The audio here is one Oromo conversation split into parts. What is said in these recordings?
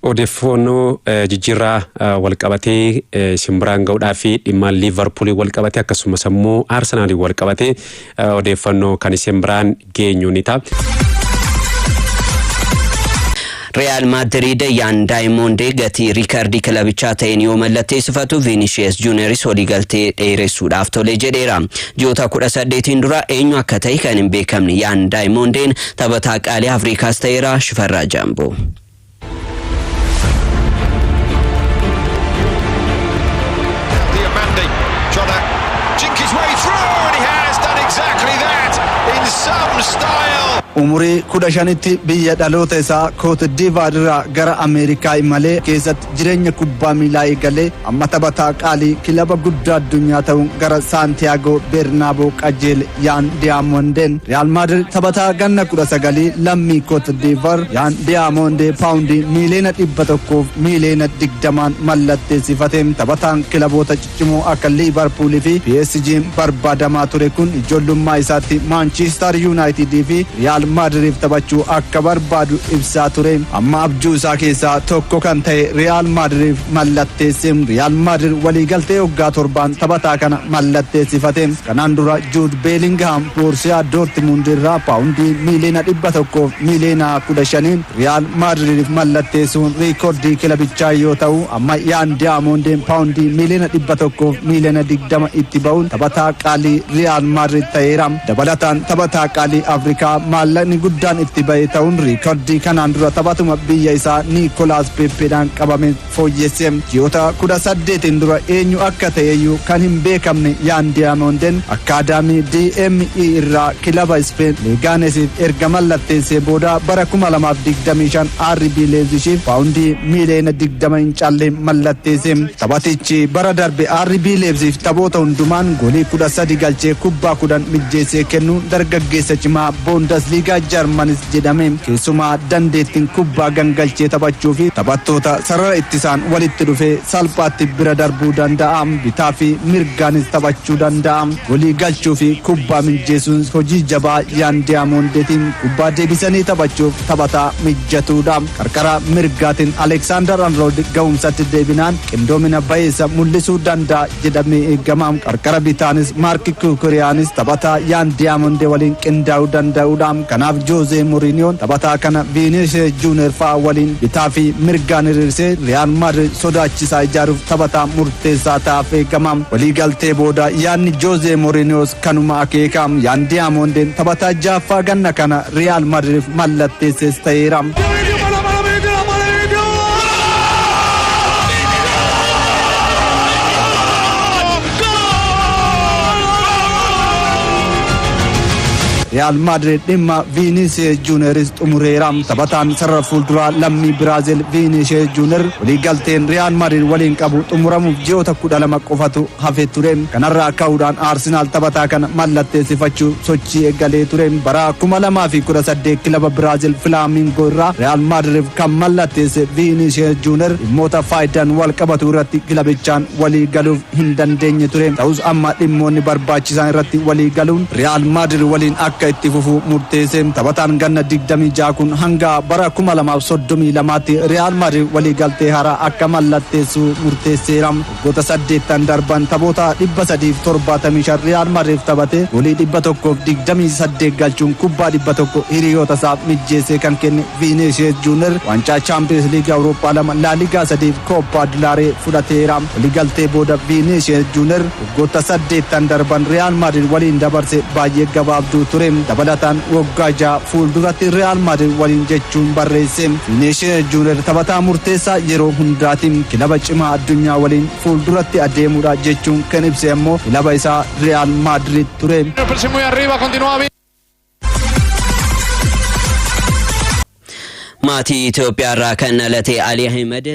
Odeeffoonnoo jijjiirraa walqabatee isin biraan ga'uudhaa fi dhimmaan Liivarpuuliin walqabatee akkasumas ammoo Arsenaaliin walqabatee odeeffannoo kan isin biraan geenyu ni ta'a. Riyaal Maadiriid Yaan Daayimoondee gatii riikardii kilabichaa ta'een yoo mallatteessifatu Viinishiyees Juuniyeris waliigaltee dheeressuudhaaf tole jedheera. Ji'oota kudha saddeetiin dura eenyu akka ta'e kan hin beekamne Yaan Daayimoondeen taphataa qaalii Afrikaas ta'eera Shifarraa Jaamboo. Umurii 15tti biyya dhaloota isaa Kootdiivaar irraa gara Ameerikaa imalee keessatti. Jireenya kubbaa miilaa eegalee amma taphataa qaalii kilaba guddaa addunyaa ta'uun gara Saantiyaagoo Beernaaboo qajeele Yaan Diyaamondeen Riyaal Maadirid taphataa ganna 19 lammii Koot Diivar Yaan Diyaamondee paawundii miiliyoona 100 fi miiliyoona 20n mallatteessifate taphataan kilaboota Cimoo akka Liivarpuul fi PSG'n barbaadamaa ture kun ijoollummaa isaatti Maanchiistar Yuunaayitid fi Riyaal Maadiriif taphachuu akka barbaadu ibsaa ture. Amma abjuu isaa keessaa tokko kan ta'e Riyaal Maadiriif mallatteesse. Riyaal Maadirid waliigaltee waggaa torbaan taphataa kana mallatteessifate. Kanaan dura Juud Beelingihaam Boorsiyaa Doortimuund irraa paawundii miiliyoona dhibba tokkoof miiliyoona kudha shaniin Riyaal Maadridiif mallatteessuun riikordii kilabichaa yoo ta'u, amma Yaan Diyaamoondiin paawundii miiliyoona dhibba tokkoof miiliyoona digdama itti ba'uun taphataa qaalii Riyaal Maadrid ta'eera. Dabalataan taphataa qaalii Afrikaa maallaqni guddaan itti ba'e ta'uun riikordii kanaan dura taphatuma biyya isaa Niikolaas Peeppeedhaan qabame fooyyesse. Ji'oota 18n dura eenyu akka ta'eyyuu kan hin beekamne Yaan Diyaamoonden akkaadaamii DME irraa kilaba Ispeen Leegaanesiif erga mallatteessee booda bara 2025 RB Leepzishiif paawundii miiliyoona 20 hin caalle mallatteesse. Taphatichi bara darbe RB Leepzishiif taphoota hundumaan goolii 13 galchee kubbaa 10 mijjeessee kennuun dargaggeessa cimaa Boondasliigaa Jarmanis jedhame. Keessumaa dandeettiin kubbaa gangalchee taphachuu fi taphattoota sarara ittisaan walitti dhufee salphaatti bira darbuu danda'a. Bitaa fi mirgaanis taphachuu danda'a. Golii galchuu fi kubbaa mijjeesuun hojii jabaa Yaan Diyaamoondeti. Kubbaa deebisanii taphachuuf taphataa mijjatuudha. Qarqara mirgaatiin Aleeksaandar Arnooldi gahumsatti deebinaan qindoomina bayeessa mul'isuu danda'a. jedhame eegama. Qarqara bitaanis Maark Kuukuriyaanis taphataa Yaan Diyaamonde waliin qindaa'uu danda'uudha. Kanaaf Joozee Moriiniyoon taphataa kana Viiniishees Juuneer fa'a waliin bitaa fi mirgaan hiriirsee Riyaal Maadriid sodaachisaa ijaaruuf taphataa murteessaa ta'aaf eegama. Waliigaltee booda yaadni Joozee Moriiniyoos Kanuma akeeka Yaan Diyaamondeen taphataa jahaffaa ganna kana Riyaal Madiriif mallatteesses ta'eera. Riyaal Maadirid dhimma Viiniisiyes Juuneris xumureera. Taphataan sarara fuulduraa lammii Biraazil Viiniisiyes Juuner waliigalteen Riyaal Maadirid waliin qabu xumuramuuf ji'oota kudha lama qofatu hafee ture. Kanarra ka'uudhaan Arsenaal taphataa kana mallatteessifachuu sochii eegalee ture. Bara 2018 kilaba Biraazil Filaamingoo irraa Riyaal Maadiriif kan mallatteesse Viiniishees Juuner dhimmoota faayidaan wal qabatu irratti kilabichaan walii galuuf hin dandeenye ture. Ta'us amma dhimmoonni barbaachisaan irratti walii galuun Riyaal Maadiir waliin akka itti fufu murteesse. Taphataan ganna 26 kun hanga bara 2032tti Riyaal Maadiir waliigaltee haaraa akka mallatteessu murteesseera. Waggoota saddeettan darban taphoota 375 Riyaal Madriif taphatee goolii 128 galchuun kubbaa 100 hiriyootasaaf mijjeessee kan kenne Viiniishiyees Juuniyer waancaa Chaampiyeens Liigii Awurooppaa lama, Laaligaa sadiifi Kooppaa Dilaaree fudhateera. Waliigaltee booda Viiniishiyees Juuniyer waggoota saddeettan darban Riyaal Madrid waliin dabarse baay'ee gabaabduu ture. Dabalataan waggaa jaha fuulduratti Riyaal Madrid waliin jechuun barreesse. Vineeshiya Juuner taphataa murteessaa yeroo hundaati. Kilaba cimaa addunyaa waliin fuulduratti adeemuudha jechuun kan ibse ammoo kilaba isaa Riyaal Maadriid ture. Maatii Itoophiyaa irraa kan dhalate Ali Ahmed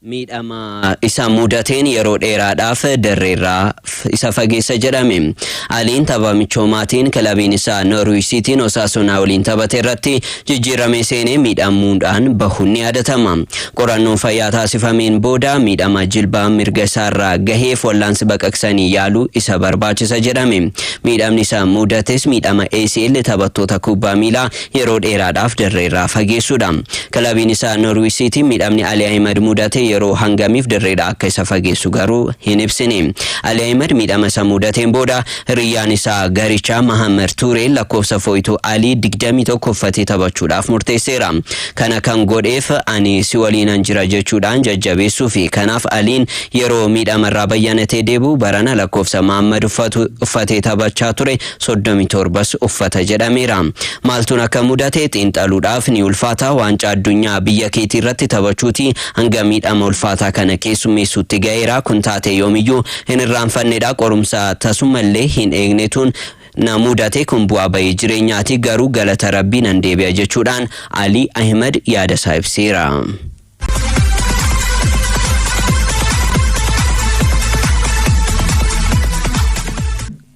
miidhama isa mudateen yeroo dheeraadhaaf dirreerraa isa fageessa jedhame. Aliin tapha michoomaatiin kilabiin isaa Norwich Siitiin Osaasunaa waliin taphate irratti jijjiirramee seenee miidhamuudhaan bahuun ni yaadatama. Qorannoon fayyaa taasifameen booda miidhama jilbaa mirga isaarraa gaheef wallaansi baqaqsanii yaaluu isa barbaachisa jedhame. Miidhamni isa mudates miidhama ACL taphattoota kubbaa miilaa yeroo dheeraadhaaf dirreerraa fageessuudha. Kilabiin isaa Norwich City miidhamni Ali Ahimad mudate yeroo hangamiif dirreedhaa akka isa fageessu garuu hin ibsine. Ali Ahimad miidhama isa mudateen booda hiriyyaan isaa garichaa Mahammad Tuuree lakkoofsa fooytuu Alii 21 uffatee taphachuudhaaf murteesseera. Kana kan godheef ani si waliinan jira jechuudhaan jajjabeessuufi. Kanaaf Aliin yeroo miidhamarraa bayyanatee deebi'u barana lakkoofsa Mahammad uffatu uffatee taphachaa ture 37s uffata jedhameera. Maaltuun akka mudate xiinxaluudhaaf ni ulfaata, waancaa addunyaa biyya keetii irratti taphachuuti hanga miidhama ulfaataa kana keessummeessuutti ga'eera, kun taatee yoomiyyuu hin irraanfannedha, qorumsa tasumallee hin eegnetuun na mudate, kun bu'aa ba'ii jireenyaati, garuu galata Rabbii nan deebi'a jechuudhaan Alii Ahimad yaadasaa ibseera.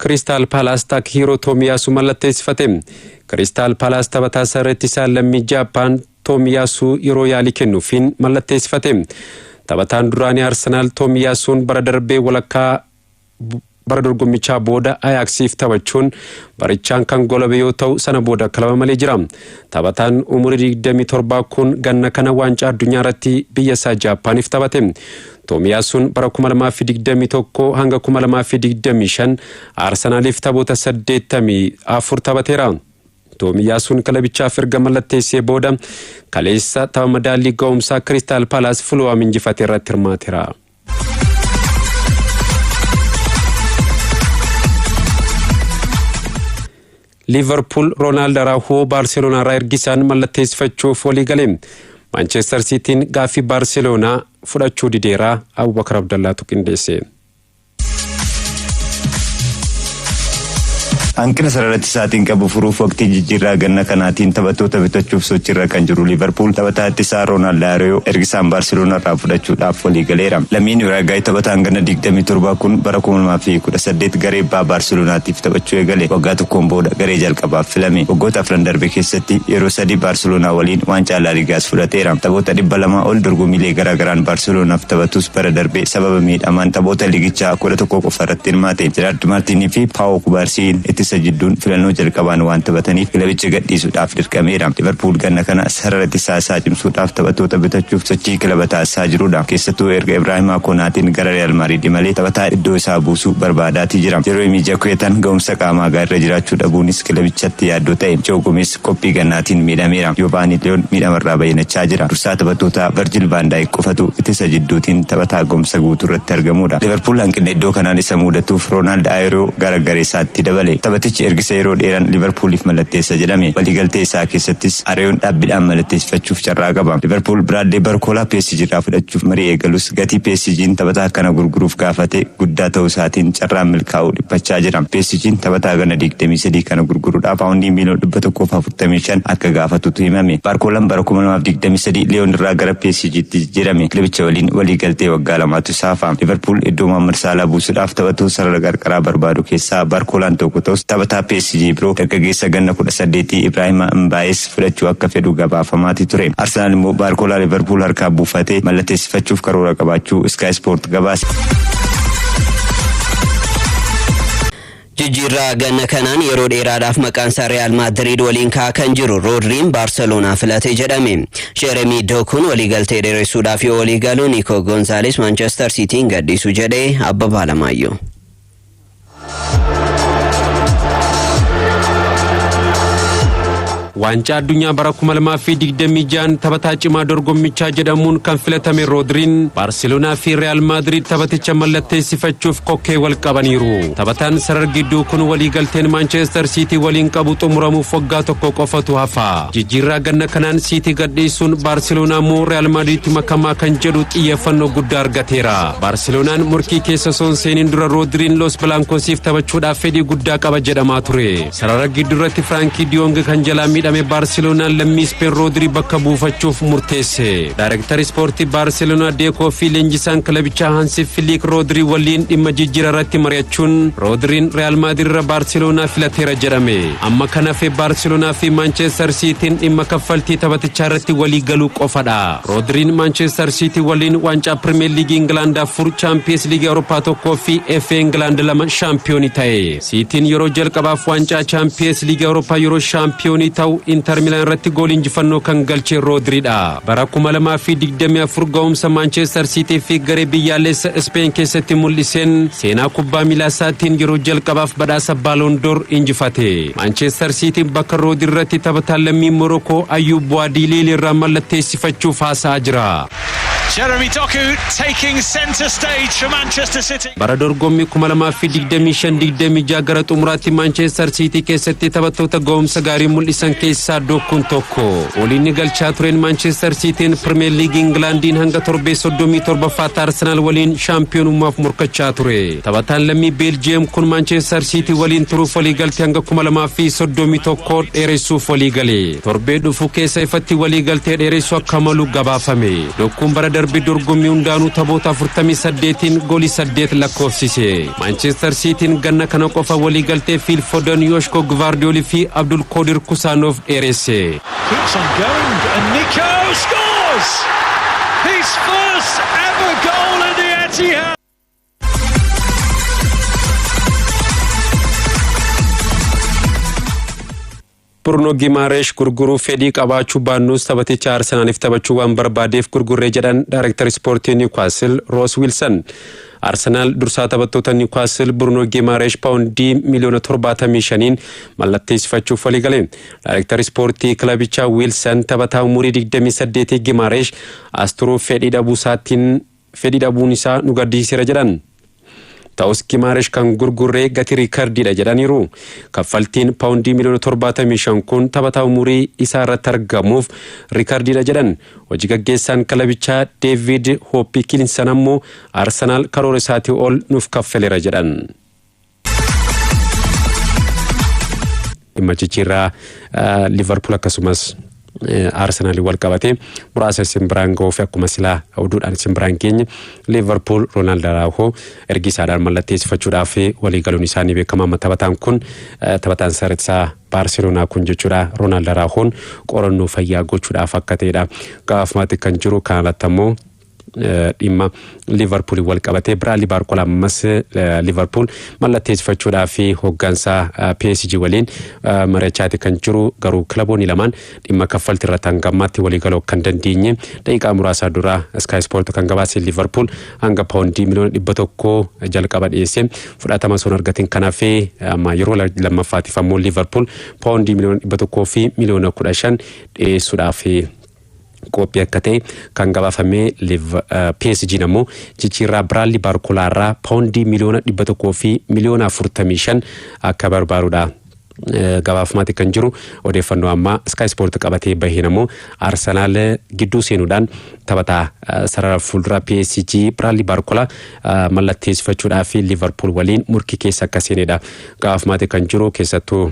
Kiristaal Paalaas Taakihiiroo Toomiyaasu mallatteessifate. Kiristaal Paalaas taphataa sarara ittisaa lammii Jaappaan Toomiyaasu yeroo yaalii kennuufiin mallatteessifate. Taphataan duraanii Arsenaal Toomiyaasuun bara darbee walakkaa Bara dorgommichaa booda Ayaaksiif taphachuun barichaan kan golabe yoo ta'u sana booda kilaba malee jira. Taphataan umurii 27 kun ganna kana waancaa addunyaa irratti biyya isaa Jaappaaniif taphate. Toomiyaasuun bara 2021 hanga 2025 Arsanaaliif taphoota 84 taphateera. Toomiyaasuun kilabichaaf erga mallatteessee booda kaleessa tapha madaallii ga'umsaa Kiristaal Paalaas Fuluwaam injifate irratti hirmaateera. liivarpuul roonaald araahoo baarseloonaa irraa ergisaan mallatteessifachuuf walii gale maanchestar siitiin gaaffii baarseloonaa fudhachuu dideeraa abubakar abdallaatu qindeesse. Hanqina sarara ittisaatiin qabu furuuf waqtii jijjiirraa ganna kanaatiin taphattoota bitachuuf sochiirra kan jiru Liivarpuul taphataa ittisaa Roonaald Laariyoo ergisaan Baarseloonaarraa fudhachuudhaaf waliigaleera. Lammiin Uraagaay taphataan ganna 27 kun bara 2018 garee Baa Baarseloonaatiif taphachuu eegale. Waggaa tokkoon booda garee jalqabaaf filame. Waggoota afran darbe keessatti yeroo sadii Baarseloonaa waliin waancaa Laaligaas fudhateera. Taphoota 200 ol dorgommiilee garaagaraan Baarseloonaaf taphatus bara darbe sababa miidhamaan taphoota liigichaa 11 qofa Dirmaate, Jeraard Maartiin fi Paawoo Kubaarsiin ittisa jidduun filannoo jalqabaan waan taphataniif kilabicha gadhiisuudhaaf dirqameera. Liiverpuul ganna kana sarara ittisaa isaa cimsuudhaaf taphattoota bitachuuf sochii kilaba taasisaa jirudha. Keessattuu erga Ibraahimaa Konaateen gara Riyaal Maadriid imalee taphataa iddoo isaa buusu barbaadaatii jira. Jeroomii Jakuetaan gahumsa qaamaa gaariirra jiraachuu dhabuunis kilabichatti yaaddoo ta'e. Joo Gomeez. Qophii gannaatiin miidhameera. Joovaanii Liyoon miidhamarraa bayyinachaa jira. Dursaa taphattootaa Varjil Vaan Daayik qofatu ittisa jidduutiin taphataa gahumsa guutuurratti argamuudha. Liiverpuul hanqinna iddoo kanaan isa muudatuuf Roonaald Ayeeroo gara gareesaatti dabale. Taphatichi ergisa yeroo dheeraan Liiverpuuliif mallatteessa jedhame. Waliigaltee isaa keessattis Areeyoon dhaabbidhaan malatteessifachuuf carraa qaba. Liiverpuul Biraadley Barkoolaa PSG irraa fudhachuuf marii eegalus. Gatii PSG'n taphataa kana gurguruuf gaafate guddaa ta'uu isaatiin carraan milkaa'uu dhiphachaa jira. PSG'n taphataa ganna digdamii sadii kana gurguruudhaaf paawundii miiliyoona dhibba tokkoo fi afurtamii shan akka gaafatutu himame. Baarkoolaan bara kuma lamaa fi digdamii sadii Liyoon irraa gara PSG'tti jijjiirame. Kilabicha waliin waliigaltee waggaa lamaatu isa hafa. Liiverpuul iddoo Mohaammad Saalaa buusuudhaaf taphatuu sarara qarqaraa barbaadu keessaa Baarkoolaan tokko ta'us taphataa PSG biroo dargaggeessa ganna kudha saddeetii Ibraahima Mbaayees fudhachuu akka fedhu gabaafamaati ture. Arsenaal immoo Baarkoolaa Liverpool harkaa buufatee mallatteessifachuuf karoora qabaachuu Sky Sport gabaase. Jijjiirraa ganna kanaan yeroo dheeraadhaaf maqaan isaa Riyaal Maadiriid waliin ka'aa kan jiru Roodriin Baarseloonaa filate jedhame. Jeremii Dookuun waliigaltee dheeressuudhaaf yoo walii galu Niikoo Goonzaalees Maanchestar Siitiin gadhiisu jedhee Abbabaa Alamaayyoo. Waancaa addunyaa bara 2026 taphataa cimaa dorgommichaa jedhamuun kan filatame Roodriin Baarseloonaa fi Riyaal Maadriid taphaticha mallatteessifachuuf kokkee wal qabaniiru. Taphataan sarar gidduu kun waliigalteen Maanchestar Siitii waliin qabu xumuramuuf waggaa tokko qofatu hafa. Jijjiirraa ganna kanaan Siitii gadhiisuun Baarseloonaa moo Riyaal Maadriitti makamaa kan jedhu xiyyeeffannoo guddaa argateera. Baarseloonaan morkii keessa osoo hin seeniin dura Roodiriin Los Bilaankoosiif taphachuudhaaf fedhii guddaa qaba jedhamaa ture. Sarara gidduurratti Firaankii Diyoong kan jalaa miidhame Baarseloonaan lammii Ispeen Roodirii bakka buufachuuf murteesse. Daayireektar Ispoortii Baarseloonaa Deekoo fi leenjisaan kilabichaa Hansi Filiik Roodirii waliin dhimma jijjiira irratti mari'achuun Roodiriin Riyaal Maadiir irra Baarseloonaa filateera jedhame. Amma kan hafe Baarseloonaa fi Maanchestar Siitiin dhimma kaffaltii taphatichaa irratti walii galuu qofadha. Roodriin Maanchester Siitii waliin waancaa Pirimeer Liigii Ingilaand afur, Chaampiyees Liigii Awurooppaa tokkoo fi FA Ingilaand lama shaampiyoonii ta'e. Siitiin yeroo jalqabaaf waancaa Chaampiyees Liigii Awurooppaa yeroo shaampiyoonii ta'u Intar Milaan irratti goolii injifannoo kan galche Roodriidha. Bara 2024 ga'umsa Maanchester Siitii fi garee biyyaalessa Ispeen keessatti mul'iseen seenaa kubbaa miilaa isaatiin yeroo jalqabaaf badhaasa Ballon d'Or injifate. Maanchester Siitiin bakka Roodi irratti taphataan lammiin Morokoo Ayyuub Buwaadiiliil irraa mallatteessifachuuf haasa'aa jira. Jeremy Doku taking centre stage for Manchester City. Bara dorgommii 2025 26 gara xumuraatti Maanchester Siitii keessatti taphattoota ga'umsa gaarii mul'isan keessaa Dokuun tokko. Goolii inni galchaa tureen Maanchester Siitiin Pirimeer Liigii Ingilaandiin hanga torbee 37ffaatti Arsenaal waliin shaampiyoonummaaf morkachaa ture. Taphataan lammii Beeljiyeem kun Maanchestar Siitii waliin turuuf waliigaltee hanga 2031 dheeressuuf waliigale. Torbee dhufu keessa ifatti waliigaltee dheeressu akka malu gabaafame. Dokkuun bara darbe dorgommii hundaanuu taphoota 48n goolii 8 lakkoofsise. Maanchestar Siitiin ganna kana qofa waliigaltee Fiil Fodan, Yooshko Gvaardiyool fi Abdul Koodir Kusaanoof dheeresse. Keeps on going, and Nico scores! His first ever goal at the Etihad! Burno Gimaaresh gurguruu fedhii qabaachuu baannus taphaticha Arsenaaliif taphachuu waan barbaadeef gurgurree jedhan Daayireektar Ispoortii Niwkaasil Roos Wiilsan. Arsenaal dursaa taphattoota Niwkaasil Burno Gimaaresh paawundii miliyoona 75n mallatteessifachuuf waliigale. Daayireektar Ispoortii kilabichaa Wiilsan taphataa umurii 28 Gimaaresh as turuuf fedhii dhabuu isaatiin fedhii dhabuun isaa nu gaddisiiseera jedhan. Ta'us Gimaaresh kan gurgurree gatii riikardiidha jedhaniiru. Kaffaltiin paawundii miliyoona torbaatamii shan kun taphataa umurii isaa irratti argamuuf riikardiidha jedhan. Hojii gaggeessaan kilabichaa Deeviid Hooppikiinsan ammoo Arsenaal karoora isaatii ol nuuf kaffaleera jedhan. dhimma jijjiirraa liverpool akkasumas arsenal wal qabatee muraasa isin biraan ga'uuf akkuma silaa oduudhaan isin biraan geenye liverpool roonaald araahoo ergi isaadhaan mallatteessifachuudhaaf walii galuun isaanii beekama amma taphataan kun taphataan saritsaa baarseloonaa kun jechuudha roonaald araahoon qorannoo fayyaa gochuudhaaf akka ta'edha gaafumatti kan jiru kanalatti ammoo dhimma liivarpuuliin wal qabatee biraadlii baarkola ammas liivarpuul mallatteessifachuudhaa fi hooggansaa PSG waliin mari'achaati kan jiru garuu kilaboonni lamaan dhimma kaffaltii irratti hanga ammaatti waliigaluu kan dandeenye daqiiqaa muraasaa dura Sky Sport kan gabaase liivarpuul hanga paawundii miliyoona dhibba tokko jalqaba dhiyeesse fudhatama sun argatiin kan hafe amma yeroo lammaffaatiif ammoo liivarpuul paawundii miliyoona dhibba tokkoo fi miliyoona kudha shan dhiyeessuudhaaf qoophi akka ta'e kan gabaafame Liv PSG'n ammoo jijjiirraa Biraadlii Baarkolaa irraa paawundii miliyoona dhibba tokkoo fi miliyoona afurtamii shan akka barbaadudha. Gabaafamaa kan jiru odeeffannoo ammaa Sky Sport qabatee baheen ammoo Arsenaal gidduu seenuudhaan taphataa sarara fuulduraa PSG Biraadlii Baarkolaa mallatteessifachuudhaa fi Liverpool waliin morkii keessa akka seenedha. Gabaafamaa kan jiru keessattuu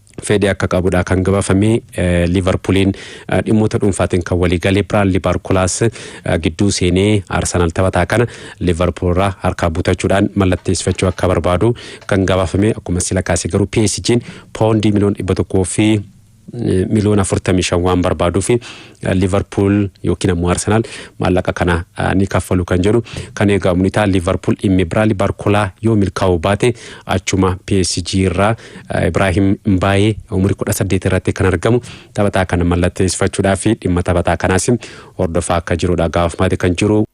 fedhii akka qabudha kan gabaafame liivarpuuliin dhimmoota dhuunfaatiin kan walii galee biraan liibaarkulaas gidduu seenee arsenaal taphataa kana liivarpuulirraa harkaa butachuudhaan mallatteessifachuu akka barbaadu kan gabaafame akkuma sila kaase garuu PSG'n poondii miliyoona dhibba tokkoo fi miliyoona afurtamii shan waan barbaaduuf Liverpool yookiin ammoo Arsenal maallaqa kana ni kaffalu kan jedhu kan eegamu ni ta'a. Liverpool dhimmi Biraali Barkolaa yoo milkaa'uu baate achuma PSG irraa Ibrahim Mbaayee umurii kudha saddeet irratti kan argamu taphataa kana mallatteessifachuudhaa fi dhimma taphataa kanaas hordofaa akka jirudha gaafamaati kan jiru.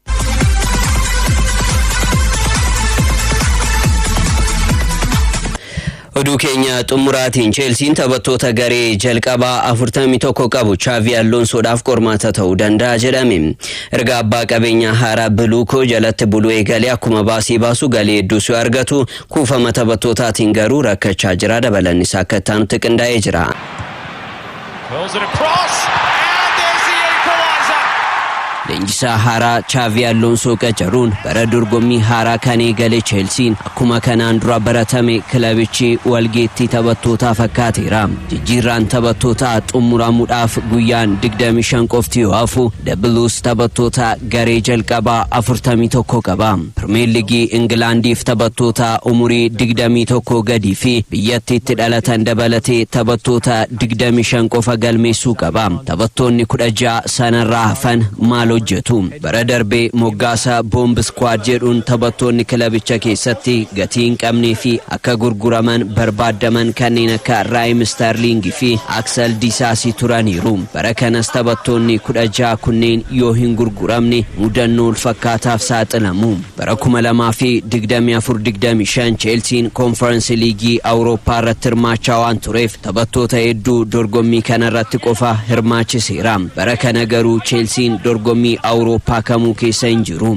Oduu keenya xumuraatiin Cheelsiin taphattoota garee jalqabaa 41 qabu Chaavii Alloonsoodhaaf qormaata ta'uu danda'a jedhame. Erga abbaa qabeenyaa haaraa Biluukoo jalatti buluu eegalee akkuma baasii baasu galii hedduus yoo argatu kuufama taphattootaatiin garuu rakkachaa jira dabalannis akka itti aanutti qindaa'ee jira. Leenjisaa haaraa Chaavii Alloonsoo qacaruun bara dorgommii haaraa kan eegale Cheelsiin akkuma kanaan dura baratame kilabichi walgeettii taphattootaa fakkaateera. Jijjiirraan taphattootaa xumuramuudhaaf guyyaan 25 qofti yoo hafu The Blues taphattoota Garee jalqabaa 41 qaba. Pirmeer Ligii Ingilaandiif taphattoota umurii 21 gadii fi biyyattiitti dhalatan dabalatee taphattoota 25 qofa galmeessuu qaba. Taphattoonni 16 sanarraa hafan maal hojjetu? Bara darbe moggaasa Bomb Squad jedhuun taphattoonni kilabicha keessatti gatii hin qabnee fi akka gurguraman barbaaddaman kanneen akka Raayim Isterliing fi Aksel Disaasii turaniiru. Bara kanas taphattoonni 16 kunneen yoo hin gurguramne mudannoo walfakkaataaf saaxilamu. Bara 2024 25 Cheelsiin Konfaransi Liigii Awurooppaa irratti hirmaachaa waan tureef taphattoota hedduu dorgommii kana irratti qofa hirmaachiseera. Bara kana garuu Cheelsiin dorgommii Awurooppaa kamuu keessa hin jiru.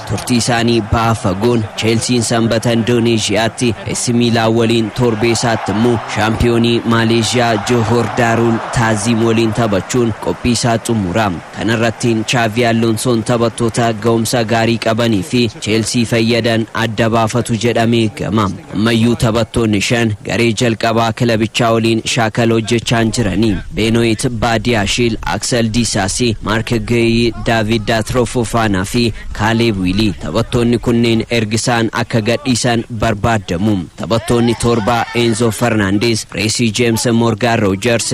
Turtii isaanii baha fagoon Cheelsiin Sanbata Indooneezhiyaatti AC Miilaan waliin torbee isaatti immoo shaampiyoonii Maaleezhiyaa Johor Daaruul Taaziim waliin taphachuun qophii isaa xumura. Kana irrattiin Chaavii Alloonsoon taphattoota ga'umsa gaarii qabanii fi Cheelsii fayyadan adda baafatu jedhamee eegama. Ammayyuu taphattoonni shan garee jalqabaa kilabichaa waliin shaakala hojjechaa hin jirani. Beenoyit Baadiyaashiil, Aksel Diisaasii, Maark Geeyi, Daaviid Daatroo Foofaanaa fi Kaaleeb Wiilii taphattoonni kunneen erga isaan akka gadhiisan barbaaddamu. Taphattoonni torba Eenzoo Fernaandeez, Reesii Jeems, Moorgaan Roojers,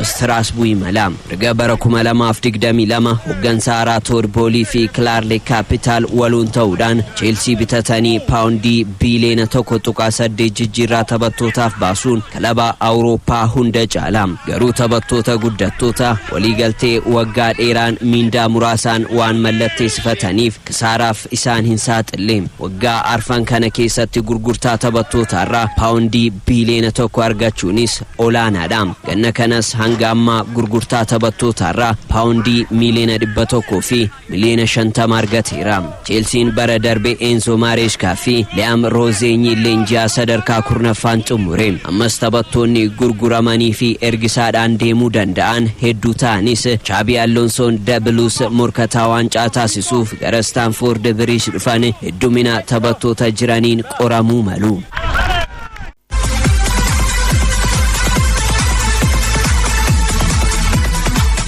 Istiraasbuuyi mala erga bara 2022 hoggansa haaraa Tood Boolii fi Kilaarle Kaapitaal waluun ta'uudhaan Cheelsii bitatanii paawundii biiliyoona 1.8 jijjiirraa taphattootaaf baasuun kilaba Awurooppaa hunda caala. Garuu taphattoota guddattoota waliigaltee waggaa dheeraan miindaa muraasaan waan mallatteesifataniif kisaaraaf isaan hin saaxille. Waggaa arfan kana keessatti gurgurtaa taphattootaarraa paawundii biiliyoona tokko argachuunis olaanaadha. Ganna kanas hanga ammaa gurgurtaa taphattootaarraa paawundii miiliyoona dhibba tokkoo fi miliyoona shantama argateera. Cheelsiin bara darbe Eenzoo Maareeshkaa fi Liyaam Roozeeñiin leenji'aa sadarkaa kurnaffaan xumure. Ammas taphattoonni gurguramanii fi ergisaadhaan deemuu danda'an hedduu ta'anis Chaabii Alonsoon Da Blues morkataa waancaa taasisuuf gara Istaanfoord Biriij dhufan heddumina taphattoota jiraniin qoramuu malu.